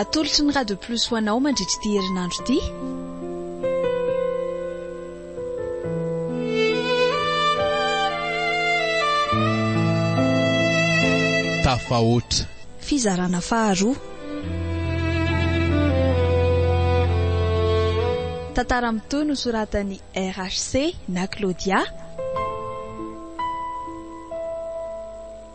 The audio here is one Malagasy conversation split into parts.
Atolotry ny Radio Plus ho anao mandritra ity herinandro ity. tafahoatra. Fizarana faharoa. Tantara mitohy no soratan'i RHC na Claudia.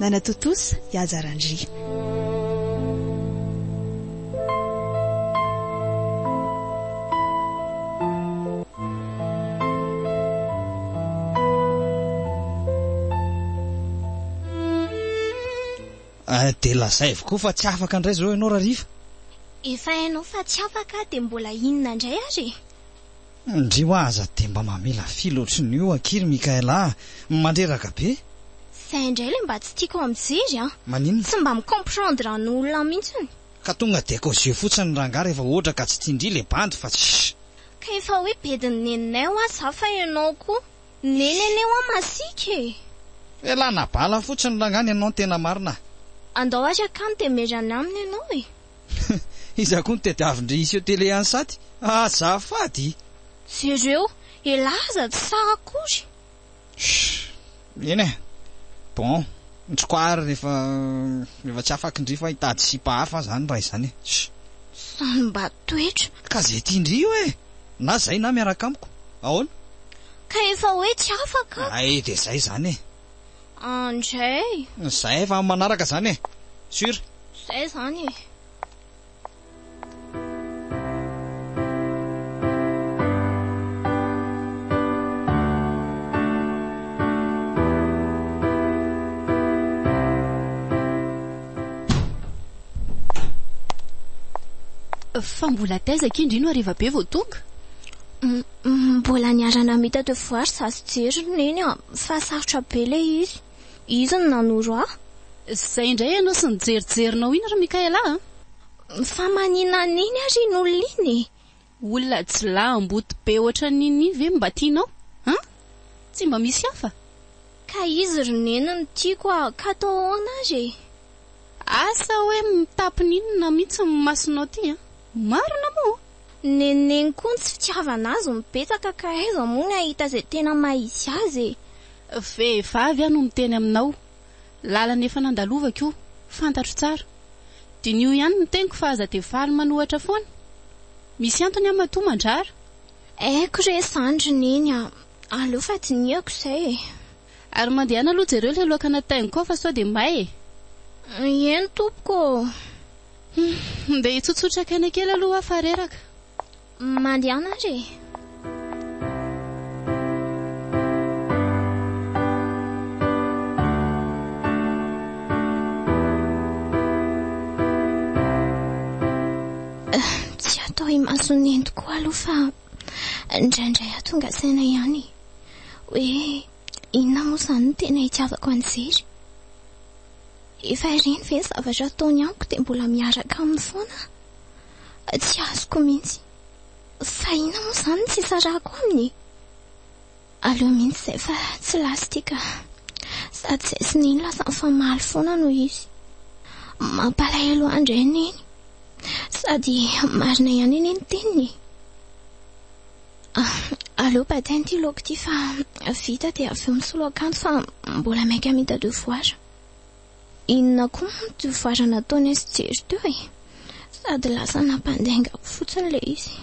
Nanatontosa i Haja Randria. Dia lazay avokoa fa tsy afaka indray izao ianao Rariva. Efa hainao fa tsy afaka dia mbola inona indray ary e? Ndry hoa aza dia mba mamela fil otriny io akia ry Mickaël ah! Mandreraka be! Zay indray ilay mba tsy tiako mijery an! Maninona? Tsy mba mi-comprendre an olona mintsiny. Ka tonga dia cause yeux fotsiny ny rangahy rehefa hoatra ka tsy tian-dry ilay bandy fa tsy sh. Ka efa hoe bedin'ny neninay hoa za fa ianao koa nenene hoa masiaka e! Elana bala fotsiny rangahy ny anao ny tena marina ah! Andao ary akany dia merana aminy ianao e! Iza koa no tadiavin-dry Iseo Télé any Saty? Azafady! Jereo elah aza tsy tsara akory. Shh! Eny e! Bon, ntsoko ary rehefa rehefa tsy afakin-dry fa hitady sipa hafa zany raha izany e! Shh! Samy mba toetra. Ka zay tian-dry io e! Na zay na miaraka amiko. Ahoana? Ka efa hoe tsy afaka. Hay dia zay zany e! Andray! Zay fa manaraka zany e! Sur! Zay zany e! Fa mbola taiza akia indry no hariva be vao tonga? Mbola niara-namita teo foire za sy Jery ry Neny an! Fa sarotra be ilay izy. Izy no nanoro ahy. Zay indray ianao sy ny jerijerinao iny ry Mikaela a! Fa maninona an'iny ary iny olona iny e? Olona jilahy amboto be ohatran'ny iny iny ve mba tianao a? Tsy mba misy hafa? Ka izy ry neny no tiako a! Ka atao ahoana ary e? Asa hoe mitampina inona mihitsy ny masonao ty a! Marina moa! Neniny koa ny tsy fitiavana azy no betsaka ka aiza moa ny hahita izay tena maha izy azy e! Vehivavy aho no miteny aminao, lalana efa nandalovako io, fantatro tsara. Diniho ihany ny teniko fa aza dia faly manohatra foana. Misy antony aho matoa mandrara. Haiko re zandry Neny a! Aleo fa dinihako izay e! Ary mandehana aloha jereo ilay loaka nataingiko ao fa sao dia may e! Eny tompoko ô! Humm, ndeha hitsotsotra kaina kely aloha aho fa reraka. Mandehana ary e! Tsy hatao imason'ny nentiko aloha fa. Indraindray aho tonga saina ihany e, hoe inona moa izany no tena itiavako an'i Jery? Efa ireny ve ny zavatra ataony amiko dia mbola miaraka aminy foana aho? Tsy azoko mihitsy. Fa inona moa izany no tsy hisarahako aminy e? Aleo mihitsy izay fa tsy last ity ka. Sady izay sy neny lasa mifamaly foana no izy. Mampalahelo ahy indray neny. Sady marina ihany anie ny teniny e. Ah, aleo bataina ity laoka ity fa vita dia avy eo misolo akanjo fa mbola maika hamita devoir. Inona koa moa ty farany nataon'i SJ ry teo e? Sady lasa nampandainga ahy fotsiny ilay izy.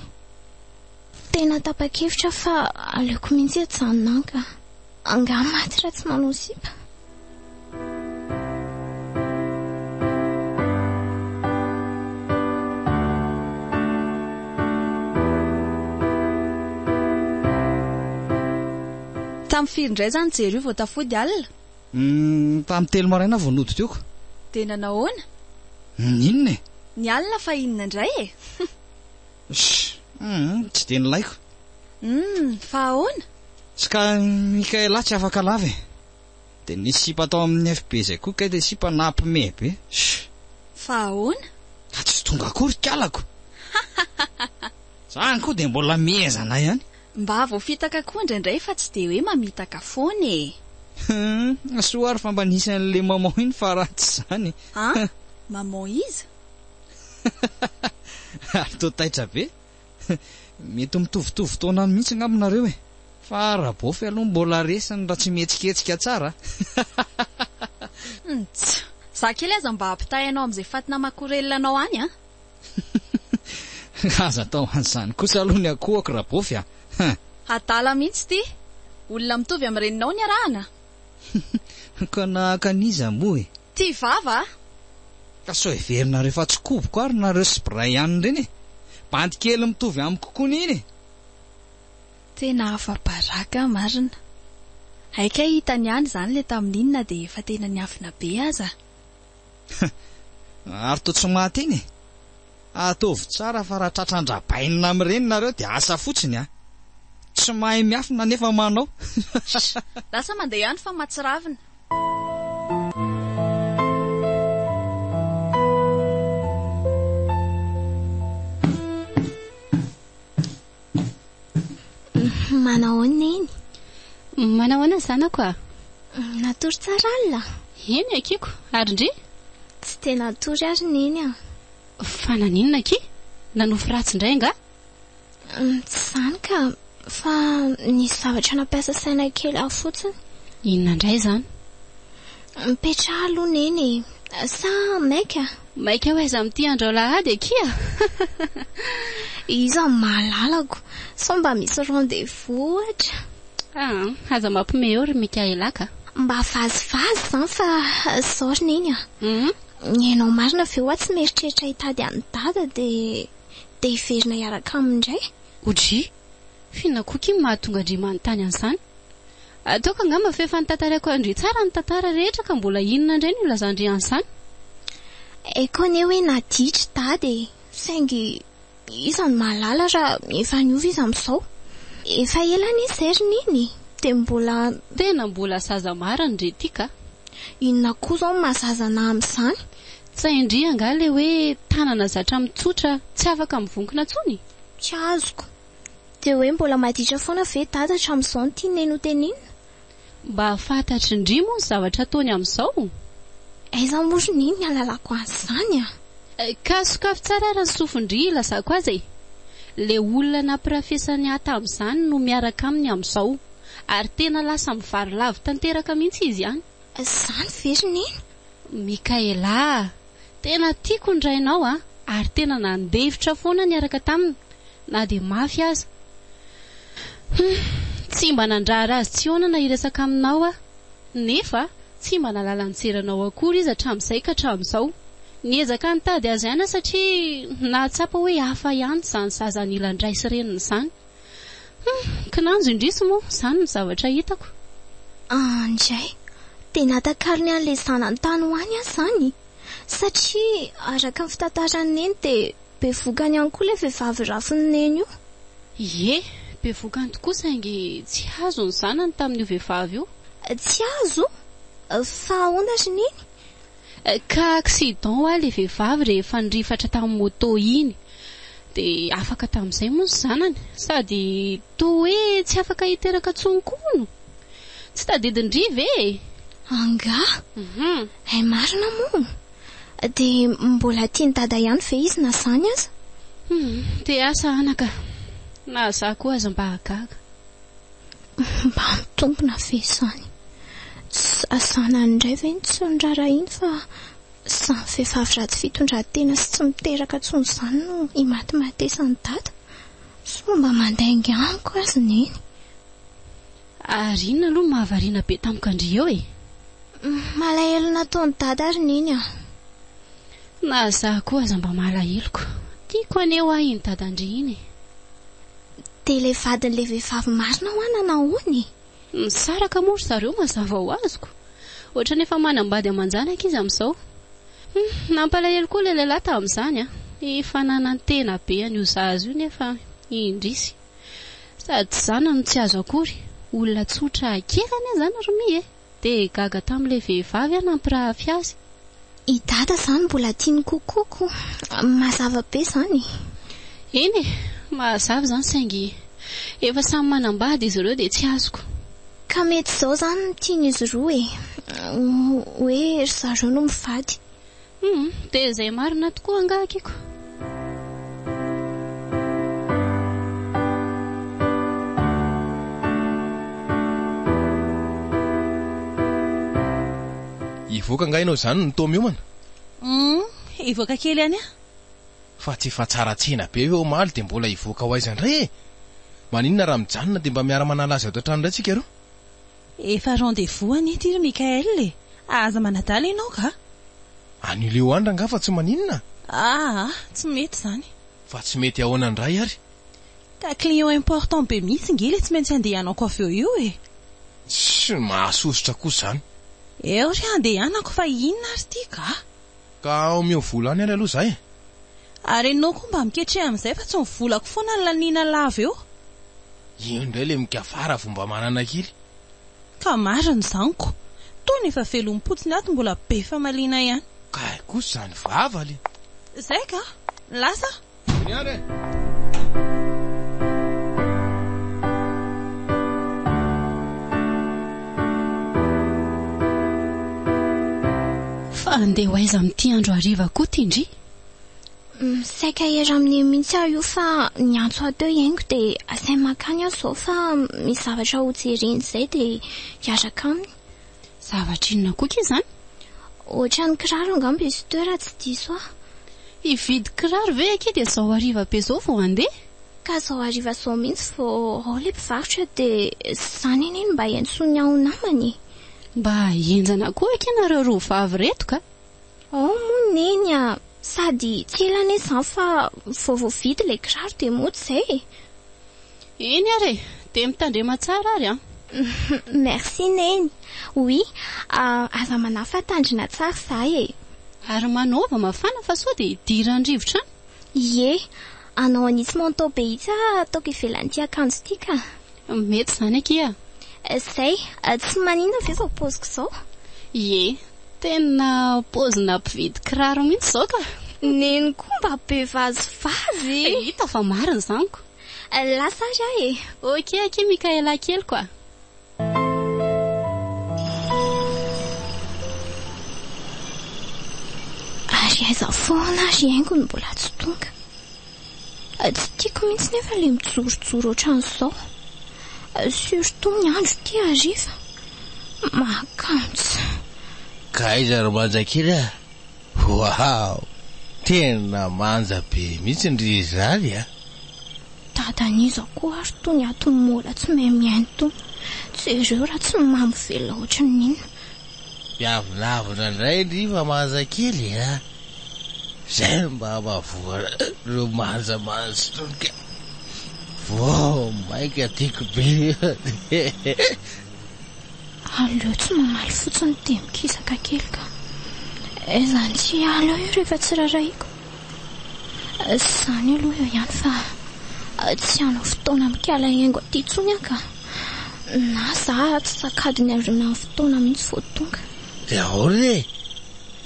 Tena tapa-kevitra aho fa aleoko mihitsy hijanona any ka. Angaha maty raha tsy manao sipa? Tamin'ny firy indray izany jery io vao tafody alina? Uhm, tamin'ny telo maraina aho vao nodidiko. Dia nanao ahoana? Uhm, inona e? Ny alina fa inona indray e? Shh, uhm, tsy dia nilaiko. Uhm, fa ahoana? Ska, Mikaela tsy afaka lava e. Dia nisy sipa tao amin'ny FB izay koa kay dia sipa nampime be. Shh. Fa ahoana? Ka tsy tonga akory kalako. Zany koa dia mbola miezana ihany. Mba voafitaka koa indraindray fa tsy dia hoe mamitaka foana e! Hum, soa ary fa mba nisy an'le maman iny fa raha tsy izany e! An? Maman iza? Ary toa taitra be? Mety mitovitovy taona mihitsy angamba nareo e! Fa Rabofy aloha mbola resiny raha tsy mihetsiketsika tsara a! Ntsy! Za kely aza mba ampitahay anao amin'izay fatina makorelina anao any an! Aza atao an'izany kosa aloha ny akohako Rabofy a! Hein! Adala mihitsy ity! Olona mitovy amin'ny reninao ny arahana! Ka nahaka an'iza moa e? Tia vava a! Ka sao heverinareo fa tsikoboko ary nareo sy Brian ireny e! Bandy kely mitovy amiko koa ny iny e! Tena afa-baraka marina. Hay kay hitany ihany izany ilay tamin'iny na dia efa tena niafina be aza. Hum! Ary toa tsy maty iny e! Ataovy tsara fa raha tratran-dRabainina amin'ireny nareo dia asa fotsiny a! Tsy mahay miafina nefa manao. Lasa mandeha ihany fa mahatsiravina. Manahoana Neny? Manahoana zanako a? Natory tsara alina? Eny Akiko, ary ndry? Tsy dia natory ary Neny a. Fa naninona akia? Nanofy ratsy indray angaha? Tsy izany ka, fa nisy zavatra nampiasa saina kely ahy fotsiny. Inona indray izany? Mipetraha aloha Neny e, sa maika? Maika ho aiza amin'ity andro alahady akia? Iza no mahalalako? Sao mba misy rendez-vous ohatra? Ah, aza mampime eo ry Mickaela ka! Mba vazivazy izany fa izao ry Neny a! Ianao marina ve hoa tsy mieritreritra hitady an'i Dada dia dia hiverina hiaraka aminy indray? Odry! F'inona koa k'y mahatonga ndry manontany an'izany? Ataoko angamba f'efa notantaraiko an-dry tsara ny tantara rehetra ka mbola inona indray no hilazan-dry an'izany? Haiko anie hoe naditry Dada e! Saingy iza no mahalala raha efa niova izy amin'izao? Efa ela anie izay ry Neny e! Dia mbola. Tena mbola zaza marina ndry ity ka! Inona koa izao no maha zaza anà amin'izany? Tsain-dry angaha ilay hoe tanana zatra mitsotra tsy afaka mivonkona intsony? Tsy azoko. Dia hoe mbola maditra foana ve dada hatramin'izao ny tianay notenenina? Mba fantatr'i Ndry moa ny zavatra ataony amin'izao? Aiza moa ry Neny ny ahalalako an'izany a! Ka sokafy tsara ary ny sofin-dry hilazako azy e! Ilay olona nampirafesan'i Ahy tamin'izany no miaraka aminy amin'izao. Ary tena lasa mivarilavo tanteraka mihitsy izy an! Izany ve ry Neny? Mikaela a! Tena tiako ny rainao a! ary tena nandefitra foana niaraka taminy na dia mafy aza. Humm! Tsy mba nandrara azy tsy hoanana hiresaka aminao aho, nefa tsy mba nahalala nijery anao akory izy hatramin'izay ka hatramin'izao. Niezaka nitady azy aina satria nahatsapa hoe hafa ihany izany zaza an'ila an-dRay sy Reniny izany. Humm! Kinanjo indrisy moa izany ny zavatra hitako. Andjay, dia natakalony an'ilay zanany tany ho any aho izany. Satria araka ny fitantaran'i Neny dia bevokany ihany koa ilay vehivavy rafin'i Neny io. Ie, bevokany tokoa saingy tsy hazo ny zanany tamin'io vehivavy io. Tsy hazo? Fa ahoana ry Neny? Cas accident hoa le vehivavy rehefa nirifatra tamin'ny moto iny de afaka tamin'izay moa ny zanany? Sady toa hoe tsy afaka hiteraka tsony koa hono? Tsy tadidin'i Dry ve e? Angaha? Hay marina moa! De mbola tian'i Dada ihany ve izy na zany aza? Hum, te asa anaka! Na za koa aza mba gaga. Mba mitombina ve izany? Sasana indray ve ny tsy noraharahiany fa izany vehivavy ratsy fitondran-tena sy tsy miteraka intsony izany no himatimatesan'i Dada? Sao mba mandainga amiko azy Neny? Ary inona aloha no mahavariana be tamiko an-dry eo e? Malahelo nataon'i Dada ry Neny an! Na za koa aza mba malaheloko. Tiako haneho ahy iny Dadan-dry iny e! Dia ilay vadin'ilay vehivavy marina hoa nanao hono e! Misaraka moa ry zareo mazava ho azoko. Ohatran'ny efa manambady aman-janaka izy amin'izao. Hum, nampalahelo koa ilay lehilahy tamin'izany an! Efa nanantena be an'io zaza io nefa indrisy. Sady zanany no tsy azo akory. Olona tsotra kely anie izany ry Mia e! Dia gaga tamin'ilay vehivavy aho nampirahafy azy. I Dada izany mbola tia ny kokoko. Mazava be izany e! Eny e! Mazava izany saingy efa samy manambady izy ireo dia tsy azoko. Ka mety izao izany no tian'izy roa e! Hoe ry zareo no mivady. Humm dia izay marina tokoa angaha Kiko? Hivoaka angaha ianao izany ny tao miomana? Humm hivoaka kely ihany aho. Fa tsy efa tsara tsena be ve omaly dia mbola hivoaka ho aiza indray e? Maninona raha mijanona dia mba miara-manala azy ato an-trano indray tsika roa? Efa rendez-vous anie ity ry Mickaël e! Aza manadala ianao ga! An'io Leoandra angaha fa tsy maninona? Aa! Tsy mety izany! Fa tsy mety ahoana indray ary? Ka client important be mihitsy nge ilay tsy maintsy handehanako avy eo io e! Tsy mahasosotra kosa izany! Eo ry handehanako fa inona ary ity ga! Ka omeo vola any ary aloha zah e! Ary enao koa mba miketreha amin'izay fa tsy ny volako foana no laniana lava eo. Io indray ilay mikavara vao mba manana kely. Ka marina izany ko! Tony efa velom-potsiny ato mbola be famaliana ihany. Kay kosa izany vava le. Zay ka! Lasa aho. Fa handeha ho aiza amin'ity andro hariva koa ity ndry? Saika ery amin'ny eny mihitsy aho io fa niantso ahy teo i Hengo dia asainy mankany aho izao fa misy zavatra hojereny izay dia hiaraka aminy. Zavatra inona koa kay izany? Ohatran'ny kiraro angamba izy ito raha tsy diso aho. Hividy kiraro ve akia dia izao hariva be izao vao handeha? Ka izao hariva izao mihitsy vao ao ilay mpivarotra dia izany anie no mba iantsoany ahy ho namany e! Mba henjana koa akia nareo roa vavy ireto ka! Hoo moa neny a! Sady tsy ela anie izany fa vao voavidy ilay kiraro dia mody izay e! Eny ary e! Dia mitandrema tsara ary an! Merci neny! Oui, aza manahy fa tandrina tsara izaho e! Ary manaova mafana fa sao dia hidiran-drivotra any! Ie! Anao an'itsy manteau be itsy ah ataoko ivelan'ity akanjo ity ka! Mety izany akia a! Zay! Tsy maninona ve izao paoziko izao? Ie! Tena paozina mpividy kiraro mihitsy izao ka! Neny koa mba be vazivazy e! Hita fa marina izany ko! Lasa ary aho e! Ok akia Mikaela keliko a! Ary aiza foana ary haingo no mbola tsy tonga? Tsy tiako mihitsy nefa le mijorojoro ohatran'izao. Surtout ny andro ity hariva. Mahakanja. Ka aiza ry manja kely a! Waouh! Tena manja be mihitsy ny ry zary a! Dadan'iza koa ary tony ato Mola tsy mahay mihaino tony. Jereo raha tsy mamy velona ohatran'inona. Dia avonavona indray ndry fa manja kely a! Izay no mba hampavoana ireo manja manja itony ka! Vao mainka tiako be eh! Aleo tsy mamaly fotsiny dia mikisaka kely ka! Aiza an'ity hiala io rehefa tsy rarahiako? Izany aloha eo ihany fa tsy hanao fotoana mikala engo aty intsony aho ka! Na za ary tsy tsakadiny avy eo amin'ny fotoana mihitsy vao tonga. Dia ahoana e?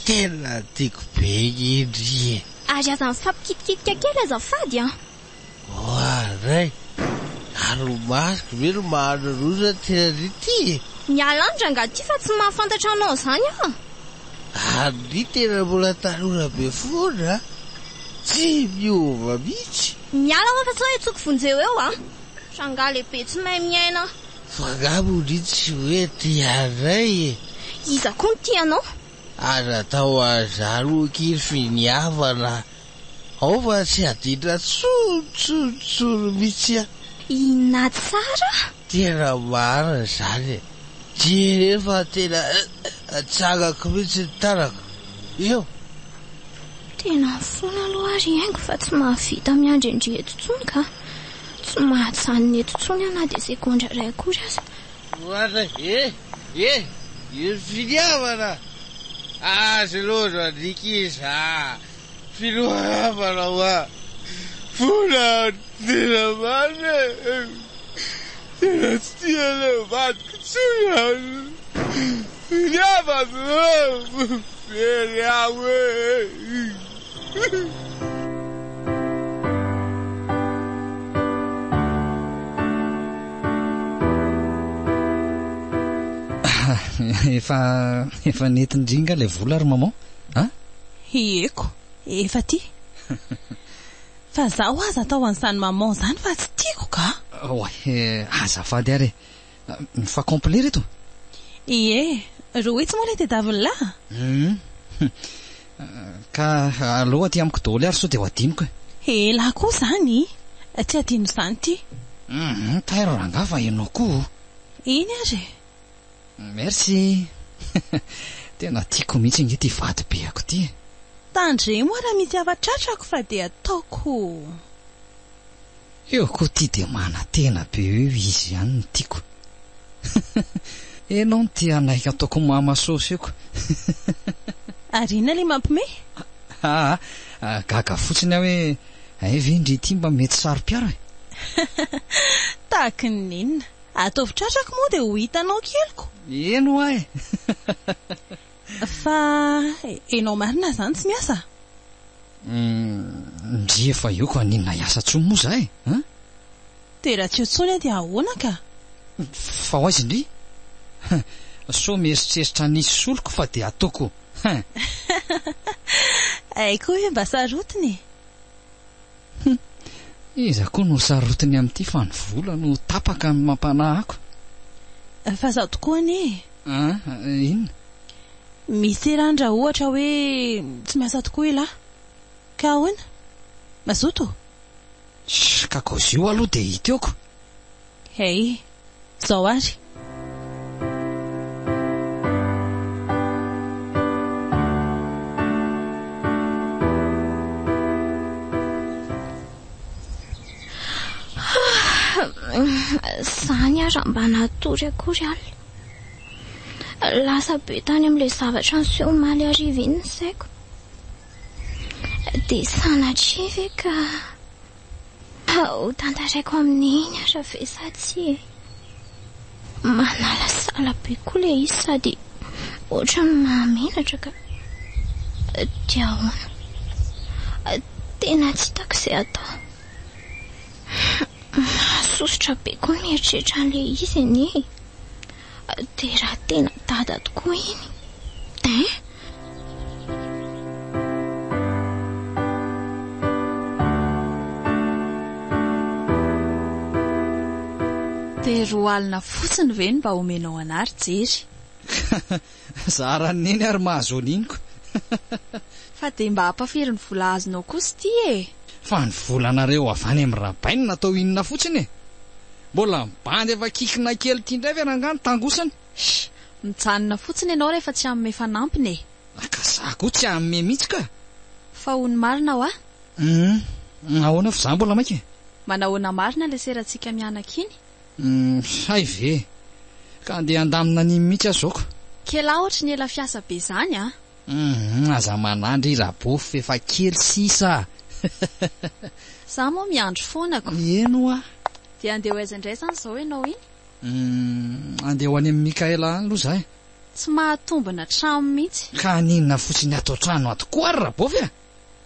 Tena tiako be indry e! Ary aza mifampikitikitika kely azafady an! Oa ray! Ary ny masoko ve no maha-an'oloana aty ary ity e? Miala any rangahy ity fa tsy mahafantatra anao izany aho a! Ary ny tena mbola tanora be foana a! Tsy miova mihitsy! Miala ho'a fa sao hetsoko vonjeo eo a! Tranga lehibe tsy mahay miaina. Fa nga modia tsy hoe tia anay e. Iza koa no tia anao? Aza atao an'izany hoy kir fy ny havana ao fa tsy adidra tsony tsony tsony mitsy a. Inona tsara? Tena marina izany e. Jereo fa tena atsangako mitsy ny tanako eo. Tena fona aloha ary haingo fa tsy mahavita miandry an-dry eto tsony ka. Tsy mahajanona eto intsony aho na dia segondra iray akory aza. Oana e! e! Io finiavana azy loatra andriaka izy a! Filoharabana ho a! Fona tena marina e! Tena tsy tia an'ilay vadiko intsony aho! Finiavana o! Very aho e! efa efa netindringa ilay vola ry maman a hieko efa ty fa zaho aza atao an'izany maman izany fa tsy tiako ka oay azafady ary e Mifa complet reto? Ie, rohitsy moa ilay tedaviny lahy a! Hum. Ka aleo aty amiko daholo ary sao dia ho adinoko e! Elah koa izany! Tsy adino izany ity! Hum, tairo rangahy fa ianao koa o! Iny ary e! Merci! Tena tiako mihitsy ange ity vadibeako ity e! Tandremo aho raha misy afa-tratrako fa dia ataoko! Eo koa ty dia manatena be hoe izy ihany no tiako Enao no te hanaiky ataoko mama sôsy eo koa Ary inona le mampme? Aa gaga fotsiny aho hoe hay ve ndry ity mba mety saro-piaro e? Tahaky ny inona? Ataovy tratrako moa dia ho hitanao keliko. Eny hoa e! Fa enao marina zany tsy miasa? Ndry efa eo ka n'inona hiasa tsony moa za e an! Dia raha tsy eo tsony aho dia ahoana ka? Fa ho aiza indry? Hein! Sao mieritreritra ny hisy soloko fa dia ataoko hein! Hay koa hoe mba sarotiny e! Hum. Iza koa no ho sarotiny amin'ity fa ny vola no ho tapaka amin'ny mampanahako. Fa izaho tokoa anie e! Ah, inona? Misy rany raha ohatra hoe tsy miasa tokoa ialahy. Ka ahoana? Mazoto? Shh, ka kaozio aloha dia hiteoko. Hey, Zao ary. Zany aza mba natory akory al. Lasa be tany amin'ilay zavatra niseho omaly hariva iny ny saiko. Dia sanatria ve ka. Ho tantaraiko amin'iny ara ve sa tsia e? Manalasala be koa ilay izy sady ohatran'ny mahamenatra ka. Dia ahoana? Tena tsy hitako izay atao. Mahasosotra be koa ny mieritreritra an'ilay izy anie e. Dia raha tena dada tokoa iny eh? Dia roa alina fotsiny ve no mba omenao an'ahy ry Jery? Zara ny neny ary mahazo an'iny ko. Fa dia mba ampafiry ny vola azonao kosa ity e! Fa ny volanareo avy any amin'ny rabainy natao inona fotsiny e! Mbola mibandy efa kikina kely ity indray ve rangah ny tangosany? Sh! Mijanona fotsiny ianao rehefa tsy hanome fanampiny e! Ah ka za koa tsy hanome mihitsy ka! Fa hoy ny marina wa? Humm! Ahoana fa za mbola maika e! Manahoana marina ilay serantsika mianaka iny? Uhm hay ve! Ka andeha handamina an'iny mihitsy aho zao ka! Kela ohatry ny ela fiasa be zany a! Uhm aza manandry Rabofy f'efa kely sisa a! Za moa miandry foana ko! Eny oa! Dia andeha ho aiza indray zany zao ianao iny? Uhm andeha ho any amin'i Mickaël any aloha za e! Tsy mahatombina hatramin'ny mihitsy! Ka haninona fotsiny ato an-trano ato koa ary Rabofy a!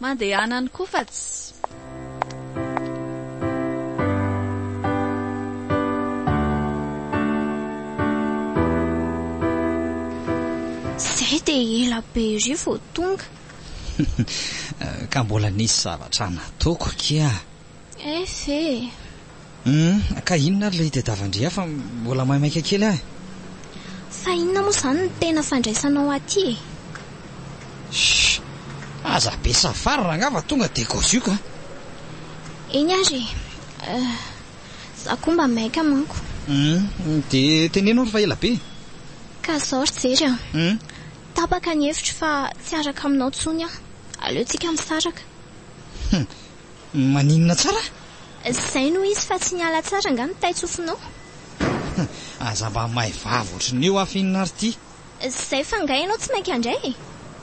Mandehana ny koa fa tsy. Zay dia ela be ery vao tonga. Ka mbola nisy zavatra nataoko kia. Ess e! Humm ka inona ary ilay hitadiavan-dry ahy fa mbola maimaika kely aho e! Fa inona moa izany no tena fandraisanao aty e? Shh! Aza be safar rangaha fa tonga dia gauzioka an! Eny ary e! Euh. Za koa mba maika manko. Humm dia teneno ary fa ela be e! Ka izao ry jery an! Humm. Tapaka ny hevitro fa tsy hiaraka aminao intsony aho. Aleontsika misaraka. Humm. Maninona tsara? Izay no izy fa tsy niala tsara angaha ny tain-tsofinao? Aza mba may vava ohatrin'ny io aho finina ry ty! Izay fa angaha ianao tsy mainka handray e!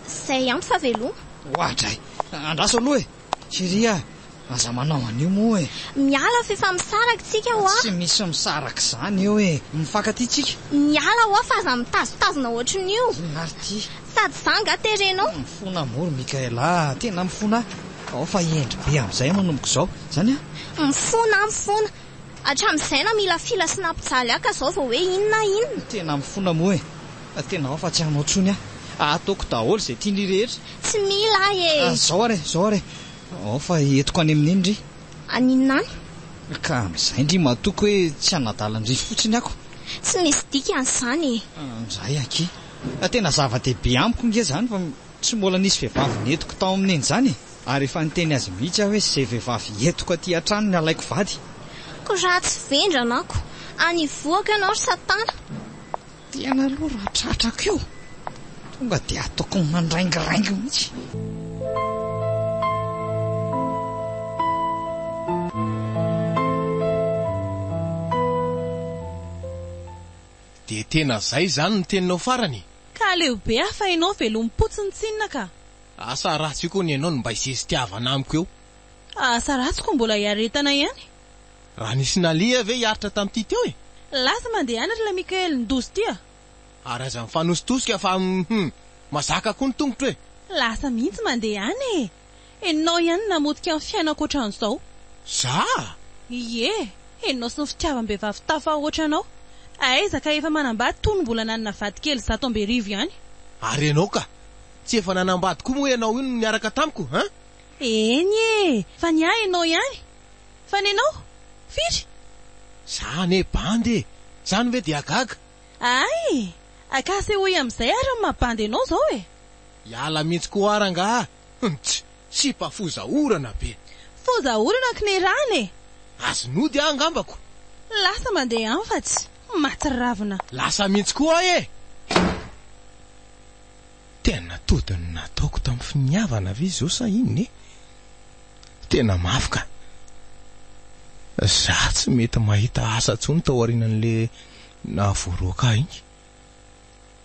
Izay ampy fa veloma! Oadray! Andraso aloha e! Chérie a! Aza manao an'io moa e! Miala fa efa misaraka tsika ho'a! Tsy misy misaraka izany eo e! Mifankatia tsika! Miala ho'a fa aza mitazotazona ohatrin'io! Inona ary ty? Sady za nga terenao. Mifona amour Mickaël a, tena mifona a! Ao fa hendry be amin'izay manomboka izao izany a! Mifona a, mifona! Hatramin'izay na mila fila sy nampijaly ahy ka zao vao hoe inona inona! Tena mifona moa e! Fa tena ao fa tsy hanao intsony aho! Ataoko daholo izay tian'ry rehetra! Tsy mila ahy e! Ah, zao ary e, zao ary e! Ao fa entiko any amin'iny ndry! Aninona any? Ka amin'izay ndry matoky hoe tsy hanadala an'ry fotsiny ako! Tsy misy dikany izany e! Indray akia! Fa tena zava-dehibe amiko nge zany fa tsy mbola nisy vehivavy nentiko tao aminy an'izany e! ary efa niteny azy mihitsy aho hoe ze vehivavy entiko aty an-trano ny alaiko vady. Ko raha tsy vendrana ako, any hivohako ianao ry satana. Tena aloha raha tratrako io, tonga dia ataoko mandraingiraingy mihitsy. De tena zay zany ny teninao farany e! Ka aleo be aho fa enao velompotsiny tsinona ka! Asa ratsy io kony enao no mba isesitiavana amiko eo. Asa ratsy ko mbola iaretana ihany. Raha nisy naleha ve hiaritra tamty teo e? Lasa mandeha any ry la Mickael ndozy ty a! Ary aza mifanositosika fa hum! Mazaka koa ny tongotro e! Lasa mihitsy mandeha any e! Enao ihany namotika ny fiainako ohatran'izao. Zah? Ie, enao sy ny fitiavam-behivavy tafahoatra anao. Aiza ka efa manambady toa ny mbola nanana vady kely zato amby arivo ihany. Ary enao ka? Tsy efa nanambady koa moa enao io no niaraka tamiko hein? Eny e, fa ny ahy enao ihany. Fa ny anao? Firy? Zah anie bandy e! Zany ve dia gaga? Ay! Ka asehoy amin'izay ary ny maha bandy enao izao e! Hiala mintsy ko ara ngah? Hmts! Sipa foza orana be. Foza orana ko ny rany e! Azy nody ah angambako. Lasa mandeha any fa tsy maty ravina. Lasa mintsy koa e! Tena tody ny nataoko tam finiavana ve zao sa inona e? Tena mafy ka! Za tsy mety mahita asa tsony taoriananle nahavoaroaka ahy iny.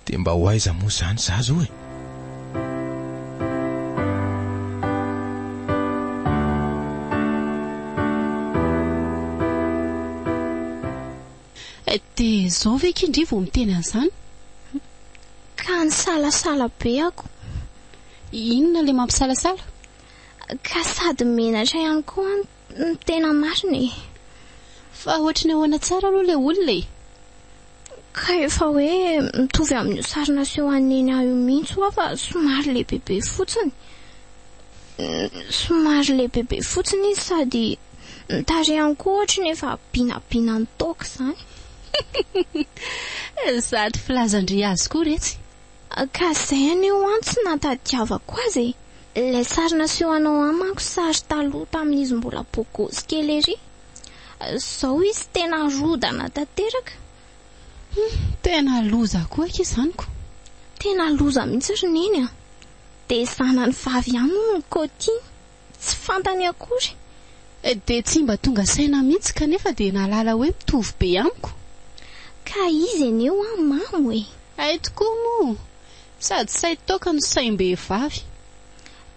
Dia mba ho aiza moa izany za zao e? Dia izao ve akia ndry vao miteny an'izany? Ka nisalasala be ako. Inona ilay mampisalasala? Ka sady menatra ihany koa aho Ny tena marina e. Fa ohatry ny ahoana tsara aloha ilay olona e? Ka efa hoe mitovy amin'io sary naseho an'i Neny io mihitsy hoa fa somary lehibebe fotsiny. Somary lehibebe fotsiny izy sady ny tarehany koa ohatry ny efa binabina nitaoka izany. Sady filazan-dry azy koa iretsy. Ka zay anie ho an tsy nahatadiavako azy e! Ilay sary nasehonao an manko sary taloha tamin'izy mbola bogosy kely ery. Zao izy tena rodana tanteraka. Hum, tena loza koa akia izany ko. Tena loza mihitsy ry neny a! Dia zanany vavy ihany hono ny Coty. tsy fantany akory dia tsy mba tonga saina mihitsy kanefa dia nahalala hoe mitovy be amiko. Ka izy anie hoa mamo e! Hay tokoa moa! Sady sahy toaka no saim-behivavy.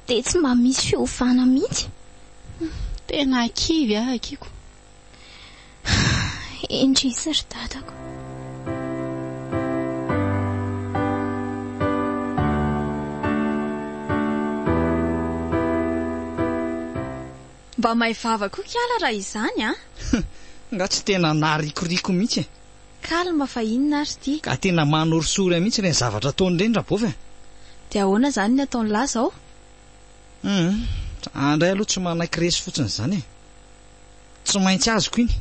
Dia tsy mba misy fiovana mihitsy. Tena kivy aho akiko. Indrisy ry dadako. Mba may vava koa kiala raha izany an! Nga tsy tena naharikoriko mihitsy e! Calme fa inona ary ity? Ka tena manorisory ahy mihitsy ireny zavatra ataony ireny Rabovy a! Dia ahoana izany ny ataon'lah izao? Humm, zah indray aloha tsy manaiky resy fotsiny izany e! Tsy maintsy azoko iny.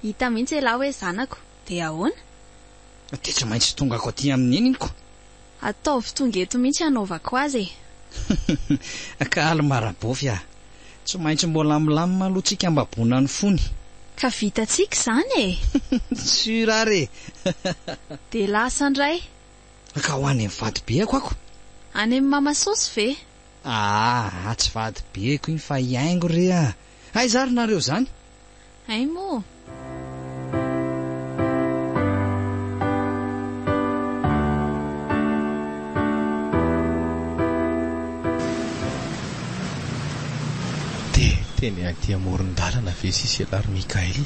Hita mihitsy elah hoe zanako. Dia ahoana? Dia tsy maintsy tongako aty amin'ny neniniko. Ataovy tonga eto mihitsy hanaovako azy e. Ka Alma Rabofy a! Tsy maintsy mbola hamilamina aloha tsika mba bona ny fony. Ka vitantsika izany e! Sûr ary e! Dia lasa indray. Ka ho any amin'ny vadibeako ako. Any amin'ny Mama Sosy ve? Aah tsy vadibeko iny fa hiaingo re a! Aiza ary nareo zany? Hay moa! Dia teny aty amoron-dalana ve sisa ialahy ry Mickaël?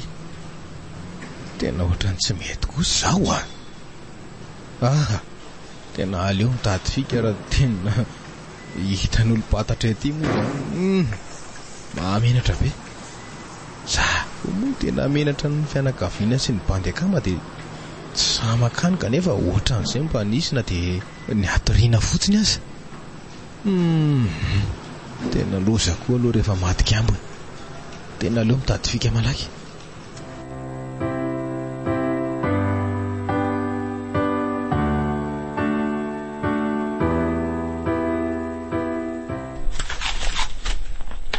Tena ohatran'ny tsy mety kosa izao a! Aha! Tena aleo mitady fika raha tena. Hitan'olo patatra ety moa zany humm mahamenatra be. Za koa moa tena menatra ny fianakaviana sy ny bandy akama dia tsy sahy makany kanefa ohatran'izay mba nisy na dia ny hatoriana fotsiny aza. Humm tena loza koa aloha rehefa maty kambona. Tena aleo mitady fika malaky.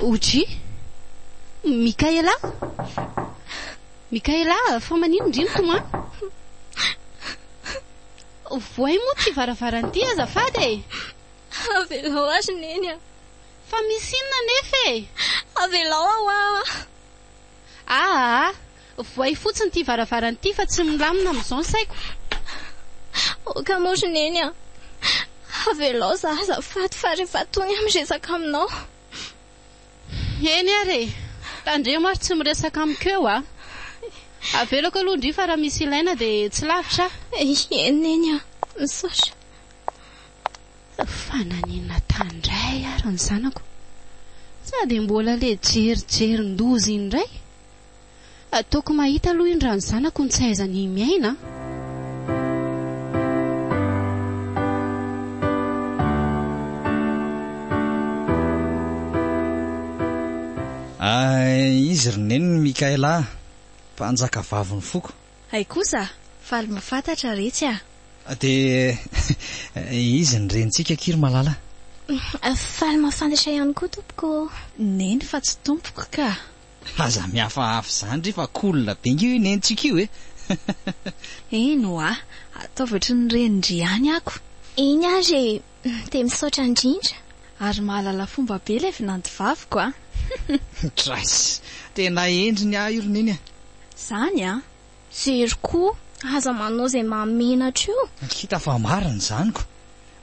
Oji? Mikaela? Mikaela, fa maninona indry ny tomany? Vohay moa ity varavarana ity azafady e! Avelao azy neny a! Fa misy inona anefa e? Avelao aho a! Ahaa! Voay fotsiny ity varavarana ity fa tsy milamina amin'izao ny saiko. Aoka moa ry Neny a! Avelao za azafady fa rehefa tony aho miresaka aminao. Eny ary e! Tandremo ary tsy miresaka amiko eo a! Avelako aloha ndry fa raha misy ilaina dia tsy lavitra aho. Eny Neny a! Misaotra. Fa naninona tany indray ary ny zanako? Sa dia mbola ilay jerijerin-doza iny indray? Ataoko mahita aloha indray ny zanako ny tsy hahaizany miaina an! Izy ry Neny Mickaela a! Mpanjakavavin'ny foko. Hay kosa! Faly mafatatra retsy a! Dia izy ny renintsika akia ry malala. Faly mafantatra ihany koa tompoko ô! Neny fa tsy tompoko ka! Aza mihafahafa izany re fa cool be ange io nenintsika io e! Eny oa! Ataovy ohatry ny renin-dry ihany ako! Eny ary e! Dia misaotra indrindra. Ary mahalala fomba be ilay vinantovaviko a! Drais! Tena endriny aho io ry Neny a! Zany a! Jery koa, aza manao izay mahamenatra io! Hita fa marina izany ko!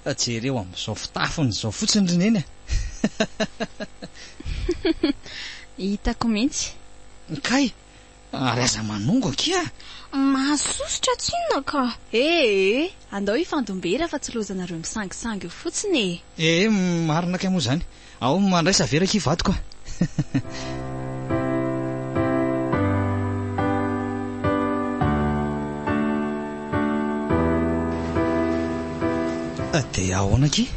Jereo amin'izao fitafiny izao fotsiny ry Neny a! Hitako mihitsy! Kay! Ary aza manongo akia a! Mahasosotra tsy inona ka! Ee, andao hifandom-bera fa tsy loazanareo misangisangy eo fotsiny e! Ee, marina kay moa izany! Ao mandraisa vera akia vadiko a! Dia ahoana akia?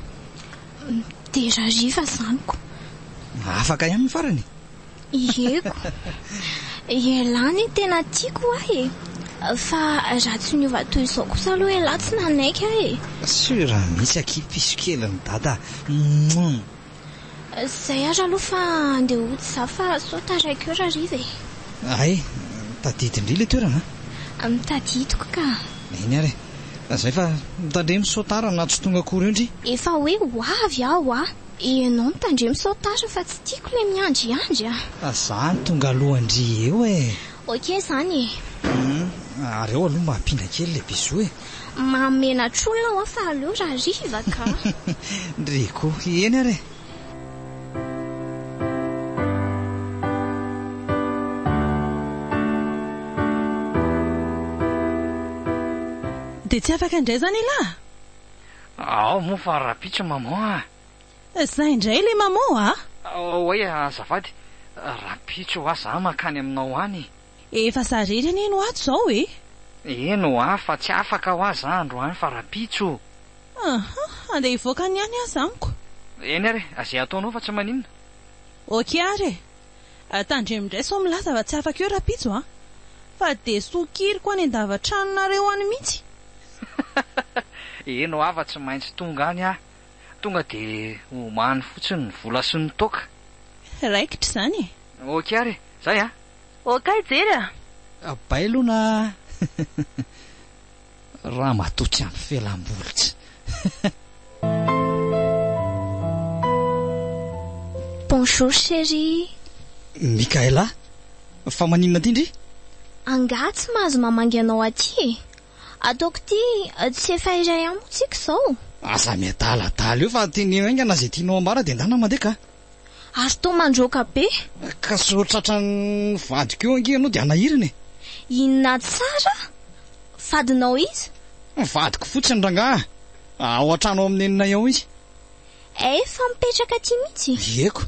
Dera hariva izany ko! Afaka ihany ny farany? Ieko. Ialahy ny tena tiako ahy e. Fa raha tsy niova toy izao kosa aloha ialahy tsy nanaiky ahy e. Sur mihitsy akia piso kelin'i dada a. Zay ary aloha fa andeha hody za fa sao taraiky eo rariva e. Hay, tadidy ndry le toerana a. Tadidiko ka. Eny ary e. Zay fa mitandremo sao tara na tsy tonga akory eo ndry. Efa hoe ho avy aho a. Ianao mitandremo sao tara fa tsy tiako ilay miandriandry a! Za no tonga alohan-dry eo e! Ok izany e! Hum, ary ao aloha mba ampina kely ilay bisous e! Mahamenatr'olona aho fa aleo raha hariva ka! Ndry koa, eny ary e! Dia tsy afaka indray izany elah? Ao moa fa rahampitso maman a! Za indray ilay maman a! Oay azafady, rahampitso hoa za mankany aminao any. Efa za irery anie no ato zao e! Eny hoa fa tsy afaka hoa za androany fa rahampitso. Aha, handeha hivoaka any ihany aza amiko. Eny ary, ze ataonao fa tsy maninona. Ok ary e! Tandremo indray sao milaza fa tsy afaka eo rapitso a! Fa dia sokiriko any an-davatranonareo any mihitsy! Eny ho'aho fa tsy maintsy tonga any aho! Tonga dia omany fotsiny ny vola sy ny toaka! Raikitra izany e! Ok ary e! Zay a! Ok jery a! Bailona a! Ramatoa tsy ampy felam-bolitsy. Bonjour chérie. Mikaela, fa maninona aty ndry? Angaha tsy mahazo mamangy anao aty e? Ataoko ity tsy efa iray amiko tsika izao? Aza miadaladala eo fa teneno haingana izay tianao ambara dia ndana mandeha ka. Ary toa mandroaka be. Ka sao tratran'ny vadiko eo ange ianao dia hanahirana e! Inona tsara? Vadinao iza? Vadiko fotsiny rangaha. Ao an-trano ao amin'ny neninay ao izy. Efa mipetraka aty mihitsy? Ieko.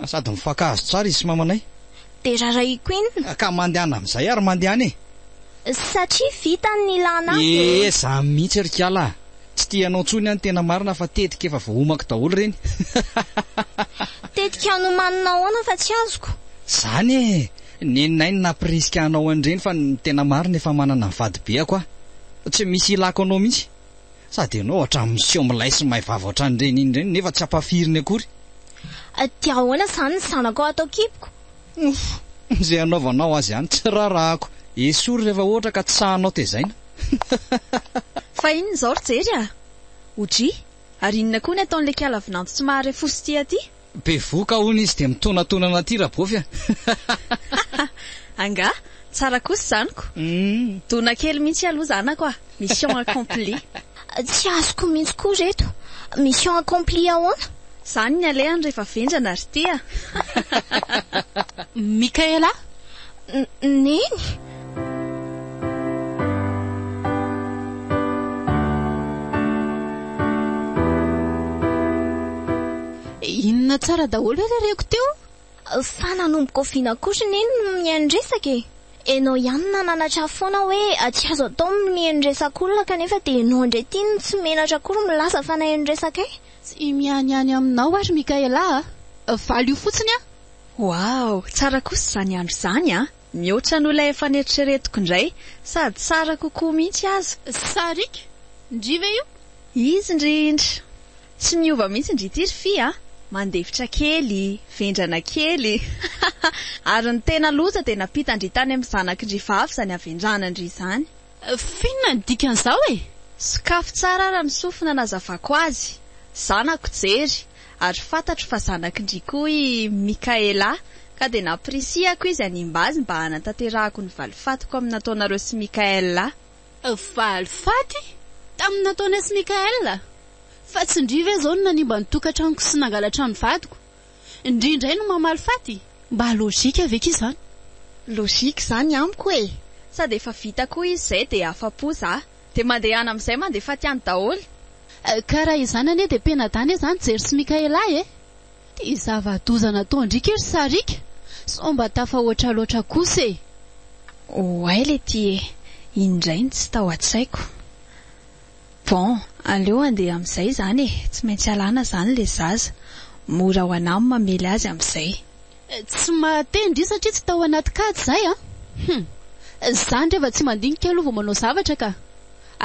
Sady mifankahazo tsara izy sy mamanay. Dia rarahiko inona? Ka mandehana amin'izay ary mandehana e! Satria vitany ny ilàna ahy dia. Eeh, izaho mihitsy ry kala a! Tsy tia anao ntsony an tena marina fa tetika efa voahomako daholo ireny. Tetika nomanina ahoana fa tsy azoko? Zany e! Neninay ny nampirisika hanao an'ireny fa ny tena marina efa manana ny vadibeako aho. Tsy misy ilako anao mihitsy. Sady ianao ohatran'ny miseho milay sy may vava ohatran'ireny iny ireny nefa tsy ampafiriny akory. Dia ahoana izany ny zanako ao atao kiboko? Ouff! Izay anaovanao azy ihany tsy rarahako. Esory rehefa ohatra ka tsy sahanao tezaina. Fa inona izao ry Jery a! OJ, ary inona koa ny ataon'ilay kiala vinanto tsy mahare fo sy tia aty? Bevohoka hono izy dia mitonatonana aty Rabofi a! Angaha? Tsara kosa izany ko! Dona kely mihitsy aloha zanako a! Mission accomplie! Tsy azoko mihitsy koa reto. Mission accomplie ahoana? Zany ny alehany rehefa vendrana ry tia a! Michaela? Neny! Inona tsara daholo ary reko teo? Fa nanomboka oviana kosa anie no nihaino-dresaka e? Enao ihany nananatra foana hoe tsy azo atao ny mihaino-dresaka olona kanefa dia enao indray ity no tsy menatra akory milaza fa nahaino-dresaka ahy. Tsy mianiany aminao ary Mickaela a! Valio fotsiny an! Waw! Tsara kosa izany andro izany a! Mihoatra noho ilay efa neritreretiko indray, sady tsara kokoa mihitsy aza. Sariaka ndry ve io? Izy indrindra! Tsy miova mihitsy ndry ity ry fy a! Mandefitra kely, vendrana kely. Ary ny tena loza dia nampita ndry tany amin'ny zanaky ndry vavy izany havendrana ndry izany. F'inona ny dikan'izao e? Sokafy tsara ara ny sofina nazavako azy. Zanako jery, ary fantatro fa zanaky ndry koa i Mickaela, ka dia nampirisihako izy hanimba azy mba hanatanterahako ny valifatiko amin'ny nataonareo sy Mickaela. Faly faty tamin'ny nataony azy Mickael a! Fa tsy ndry ve zao no nanimba ny tokatranoko sy nangalatra ny vadiko? Ndry indray no mamaly faty? Mba logique ve k'izany? Logique zany amiko e! Sady efa vita koa izy zay dia afa-po za. Dia mandehana amin'izay mandeha faty any daholo. Ka raha izany anie dia pena-dahy anie zany Jerry sy Mickael ahy e! Ity zava-doza nataon-driaka io ry sariaka sao mba tafahoatra loatra kosa e! Oay letie e! indray no tsy tao an-tsaiko. Bon, aleo andeha amin'izay izany e! tsy maintsy alana izany ilay zaza. Mora ho anà ny mamely azy amin'izay. Tsy mahateny ndry satria tsy tao anaty kajy izahay a! Hum! Za ndry efa tsy mandinika aloha vao manao zavatra ka!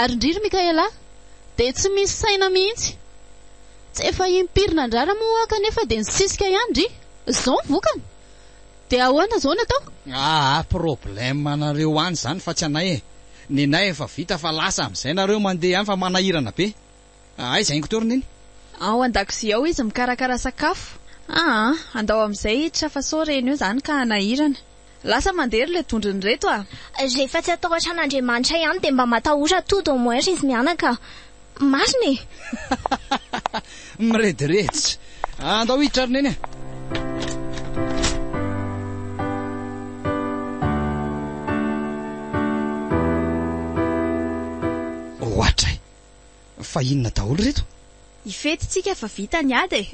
Ary ndry ry Mickaëla dia tsy misy saina mihitsy! Tsy efa impiry nandrara moa hoa kanefa dia nisisika ihany ry. Zao ny vokany? Dia ahoana zao ny atao? Aa problème anareo any zany fa tsy anay e! Ny anay efa vita fa lasa amizay nareo mandeha any fa manahirana be! Aiza ingo teo ry neny? Ao andakozia ao izy mikarakara sakafo. Aa andao amizay hiditra fa sao reny eo zany ka hanahirana. Lasa mandeha ry le dondrony reto a! Rehefa tsy atahotra an'Andriamanitra ihany dia mba matahora tout au moins ry mianaka. Marina e! Mirediredy. Andao hiditra ry neny a! Ohatray. Fa inona daholo ireto? Hifety tsika fa vita ny ady e!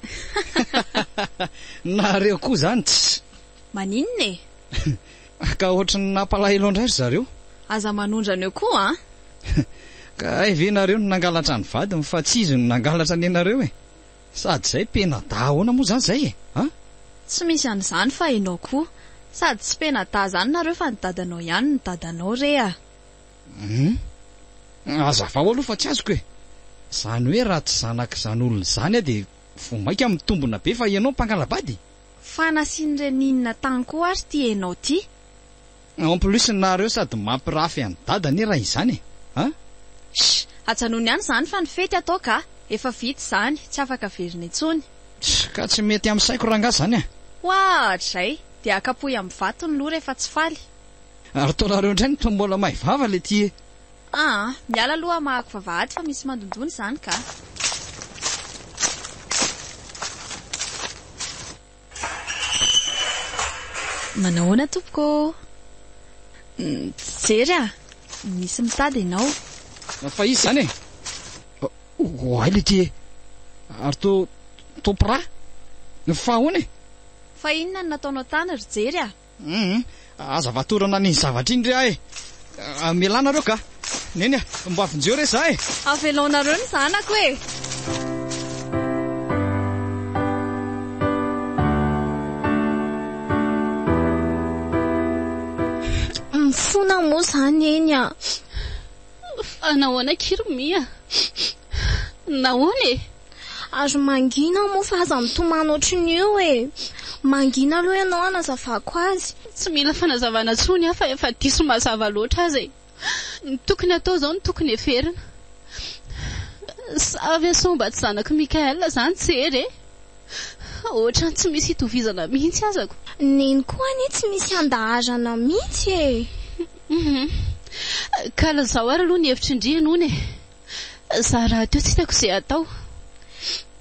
Nareo koa zany tsy. Maninona e? Ka ohatran'ny nampalahelo an-dry zareo. Aza manondra an'io koa an! Ka hay ve nareo no nangalatra ny vadiny fa tsy izy no nangalatra ny anareo e! Sady zay pena-dahy ahoana moa zany zay e! A! Tsy misy an'izany fa enao koa. Sady tsy pena-dahy zany nareo fa ny dadanao ihany no dadanao re a! Humm. Hazavao aloha fa tsy azoko e. Zany hoe raha tsy zanak'izany olona izany aho dia vao maika mitombina be fa ianao mpangalabady? Fa nasian'i Reninina tany koa ary ity enao ty. En plus nareo sady mampirafy an'i dada anie raha izany e. An. Sh! Ajanony any izany fa ny fety atao ka. Efa vita izany, tsy afaka averina intsony. Sh! Ka tsy mety amin'ny saiko rangah izany an. Hoatr'izay. Dia kapohy amin'ny vato ny loha rehefa tsy faly. Ary ataonareo indray ny tombola may vava letie. Aa miala aloha hamahako vavahady fa misy mandondona izany ka. Manao ahoana tompoko ô? Mijery a! Misy mitady ianao. Fa iza izany e? Oay letie e! Ary to to pra? Fa ahoana e? Fa inona no nataonao tany ry Jery a? Humm aza vatorana an'iny zavatra iny re ah e! Mialà nareo kah! Neny ah! Mba vonjeo re zah e! Avelaonareo ny zanako e! Mifona moa zah neny ah! Fa nahoana akia ry Mia? Nahoana e? Ary mangina moa fa aza mitomany ohatrin'ny io e! Mangina aloha ianao hanazavako azy. Tsy mila fanazavana intsony aho fa efa diso mazava loatra aza e! Ny tokony hatao izao no tokony heverina. Sa ve sao mba tsy zanak'i Mickaël izany tsy hery e! Ohatran'ny tsy misy itovizana mihitsy azako. Neny koa anie tsy misy handaharana mihitsy e! Kala izao ary aloha ny hevitr'i Ndry hono e! Za rahateo tsy hitako ze atao.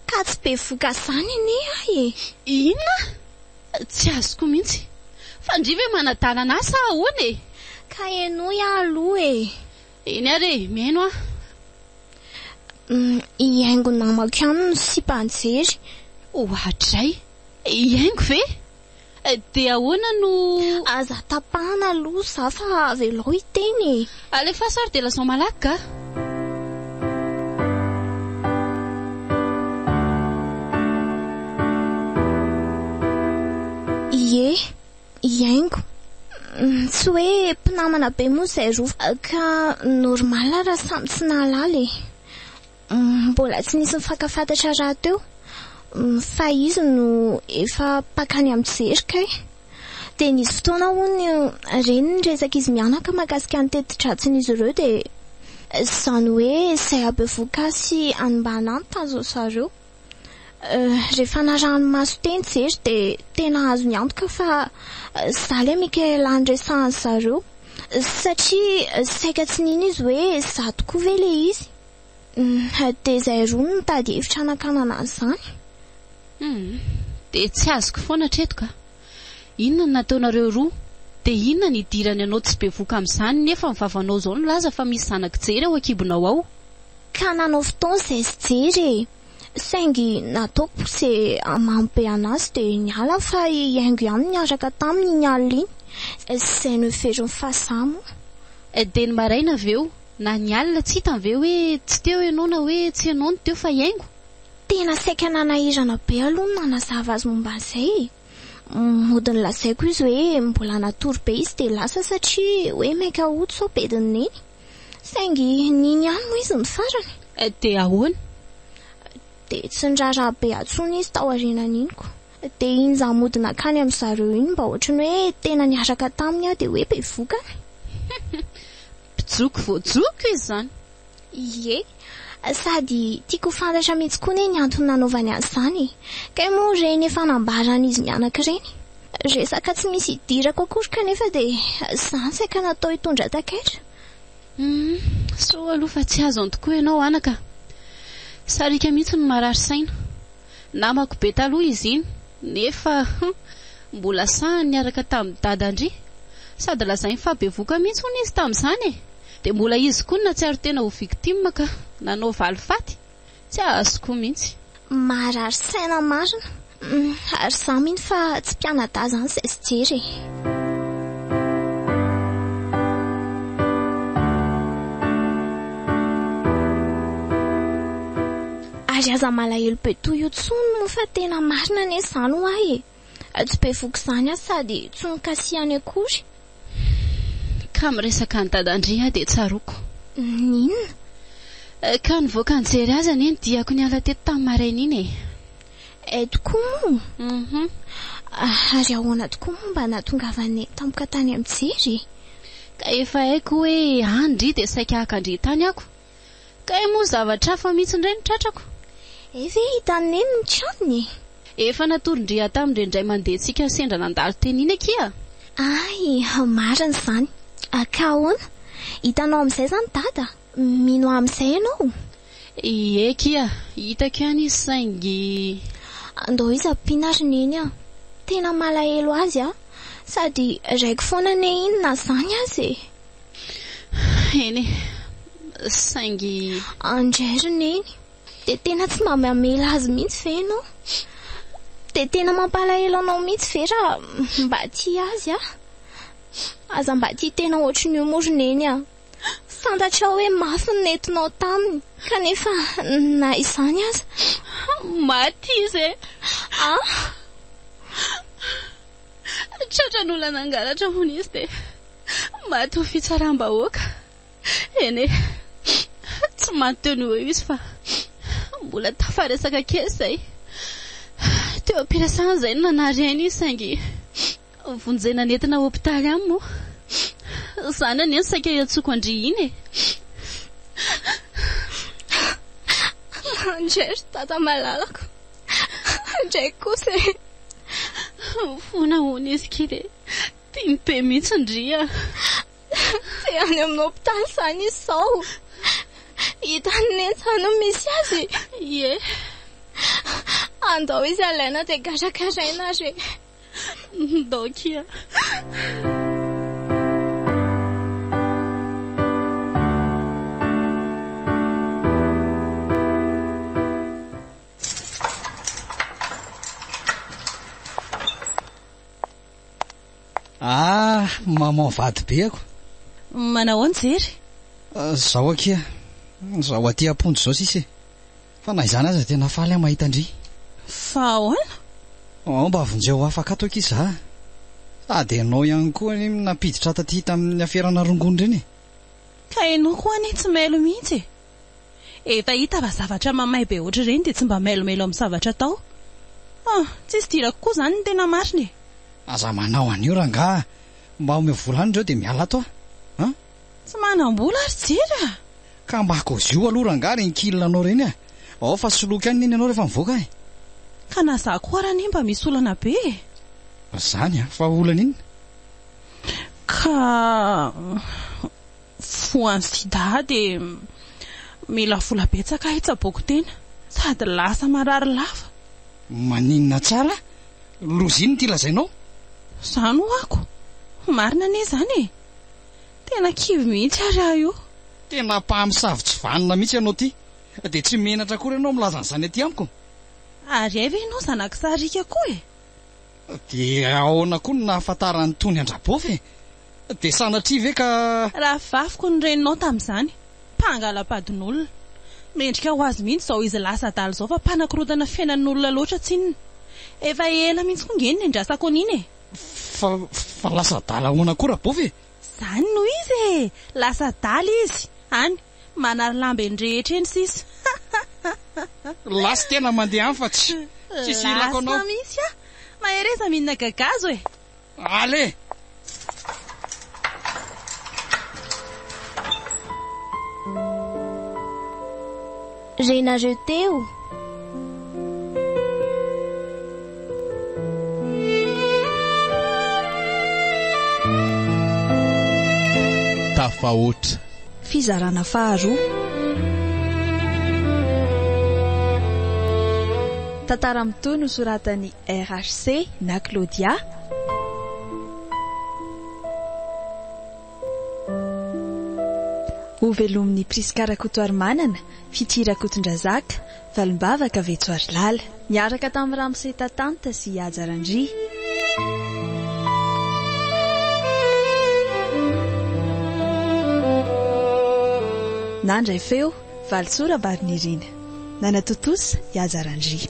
Ka tsy bevoka zany anie ahy e! Inona? Tsy azoko mihitsy. Fa ndry ve manadalana ahy sa ahoana e? Ka henoy aho aloha e! Eny ary e, mihaino aho. Hihaingo namako ihany ny sipa an-jery. Oadray! Hihaingo ve? Dia ahoana no. Aza tapahana aloha za fa avelao hiteny e. Alefaso ary dia lazao malaky ka. Ie, hiaingo. Tsy hoe mpinamana be moa izay roa fa. Ka normal raha samy tsy nahalala e. Mbola tsy nisy nifankafantatra rahateo fa izy no efa mpakany amin-jery kay. Dia nisy fotoana hono re ny resak'izy mianaka mahakasika ny teti-dratsin'izy ireo dia izany hoe izay habevohoka sy hanimbana ny tanjon'i zareo. Rehefa narahany maso teny Jery dia tena azony antoka fa izaho ilay Michaela niresahan'i zareo satria saika tsy nino izy hoe izaho tokoa ve ilay izy. Hum, dia izay roa no nitady hevitra hanakanana an'izany. Hum, dia tsy azoko foana hatreto ka. Inona no nataonareo roa? Dia inona no idirany anao tsy bevoka amin'izany nefa ny vavanao izao nilaza fa misy zanak'i Jery ao an-kibonao ao? Ka nanao fotoana izay sy Jery e! Saingy nataoko poussé mamo be an'azy dia niala fa hihaingo ihany niaraka taminy iny alina iny. Izay noheverin'i Fahazaha moa. Dia ny maraina avy eo? Na ny alina tsy hitany ve hoe tsy teo ianao na hoe tsy ianao no teo fa hiaingo? Tena saika nanahirana be aloha ny nanazava azy momba an'izay e! Mody nolazaiko izy hoe mbola natory be izy dia lasa satria hoe mainka hody sao bedin'i Neny. Saingy nino ihany moa izy ny farany. Dia ahoana? Dia tsy niraharaha be atsony izy taorianan'iny koa. Dia iny za mody nankany amin zareo iny mba ohatry ny hoe tena niaraka taminy aho dia hoe bevoka an. Mpijoko voajoko izy zany. Ie. Sady tiako ho fantatra mihitsy koa anie ny antony nanaovany azy zany e. Kay moa ireny efa nambaran izy mianaka ireny. Resaka tsy misy idirako akory kanefa dia zany saika natao hitondra takaitra. Hum, soa aloha fa tsy azo antokoa ianao anaka. Sariaka mihitsy no marary saina. Namako be taloha izy iny nefa hum mbola sahy niaraka tamin'i dadan-dry. Sady lazainy fa bevoka mihitsy hono izy tamin'izany e! Dia mbola izy koa no nahatsiaro tena ho victime ka nanao valifaty? Tsy azoko mihitsy. Marary saina marina. Hum ary izaho mino fa tsy mpianadahy izany izay tsy jery e! Ary aza malahelo be toy io tsony moa fa tena marina anie izany ho ahy e! Tsy be voky izany aho sady tsy nokasihany akory. Ka miresaka an'i Dadandry aho dia tsaroako. N'inona? Ka nivoaka nijery azy anie ny diako niala teto tamin'ny maraina iny e! Hay tokoa moa! Hum. Ary ahoana tokoa moa mba nahatongavany tampoka tany amin'ny jery e? Ka efa haiko hoe any ndry dia saika haka an-dry tany ako. Kay moa zavatra hafa mihitsy indray no tratrako. Hay ve hitan'i Neny ny tranony e! Efa natoron-dry Adam indray indray mandentsika sendra nandalo teny iny akia. Hay, marina izany. Ka ahoana? Hitanao amin'izay izany Dada? Mino ahy amin'izay ianao? Ie akia, hitako ihany izy saingy. Andao izy ampiana ry Neny a! Tena malahelo azy aho. Sady raiko foana anie inona izany aza e! Eny e, saingy. Andry Neny, dia tena tsy mba mamela azy mihitsy ve ianao? Dia tena mampalahelo anao mihitsy ve raha mba tia azy aho? Aza mba tia tena ohatry ny io moa ry Neny a! Fantatrao hoe mafy ny nentinao taminy kanefa na izany aza. Maty izy e! Ah! Tratran'ny olona nangalatra hono izy dia maty ho fitsaram-bahoaka. Eny e, tsy maty teo no ho eo izy fa mbola tafaresaka kely izay. Teo am-piresahana izay no nanary aina izy saingy vonjena nentina hopitaly any moa. Izany anie no saika iantsoako an-dry iny e. Anjery dada malalako. Indraiky kosa e. Fona hono izy ky dia tiany be mihitsy ndry a! Te any amin'ny hopitaly izany izy izao. Hitan'i Neny izany no misy azy. Ie. Andao izy alaina dia karakaraina ary e. Ndao kia. Ah, maman vady be ako. Manao ahoana Jerry? Ah, zao akia. Zao aty am-ponja zao sisa e. Fa na izany aza tena faly aho mahita an-dry. Fa ahoana? Oh, mba vonjeo afaka ato akia za. Sady ianao ihany koa anie nampiditra taty tamin'ny aferana rongony ireny e. Ka ianao koa anie tsy mailo mihitsy e. Efa hita fa zavatra mamay be ohatr'ireny dia tsy mba mailomelo amin'ny zavatra atao. Oh, tsisy dirako koa izany ny tena marina e! Aza manao an'io rangaha, mba omeo vola any ireo dia miala ato aho an! Tsy manam-bola ary jery a! Ka mba kaoziho aloha rangaha ireny kil anao ireny a! Ao fa soloiko any neny ianao rehefa mivoaka e! Ka na za koa ary anie mba misy olana be e! Izany an! Fa olana inona? Ka. voan'ny sida dia mila vola betsaka hitsaboako tena sady lasa marary lava. Maninona tsara? Loza inona ity lazainao? Za no ako. Marina anie izany e. Tena kivy mihitsy ary aho io. Tena mpamosavy tsy vanona mihitsy ianao ity. Dia tsy menatra akory ianao milaza an'izany aty amiko. Ary hay ve ianao zanak'i Sarika koa e? Dia ahoana koa no nahafantaran'itony an-dRabofy e? Dia sanatria ve ka. Raha vaviko ny reninao tamin'izany. Mpangalam-padin'olona. Mendrika ho azy mihitsy izao izy lasa adala izao fa mpanakorontana fiainan'olona loatra tsinona. Efa ela mihitsy koa nge ny niandrasako an'iny e! Fa, fa lasa adala ahoana koa Rabofy e? Izany no izy e! Lasa adala izy, any. Manary lamba eny rehetra eny sisa hahahahha. Lasy tena mandeha any fa tsy tsisy ilako anao. Lasy mihitsy ah! Mahereza mihinana gagazo e! Allez! renareo teo. Tafahoatra. Fizarana faharoa. Tantara mitohy nosoratan'i RHC na Claudia. Ho velomin'i Prisca Rakotoarimanana, Fitia Rakotondrazaka, Valimbavaka, Vetsoarilala. Niaraka tamin'i Ramose Tatanta sy Haja Randria. Nandray feo, Valisoa Rabarinirina. Nanatontosa, i Haja Randria.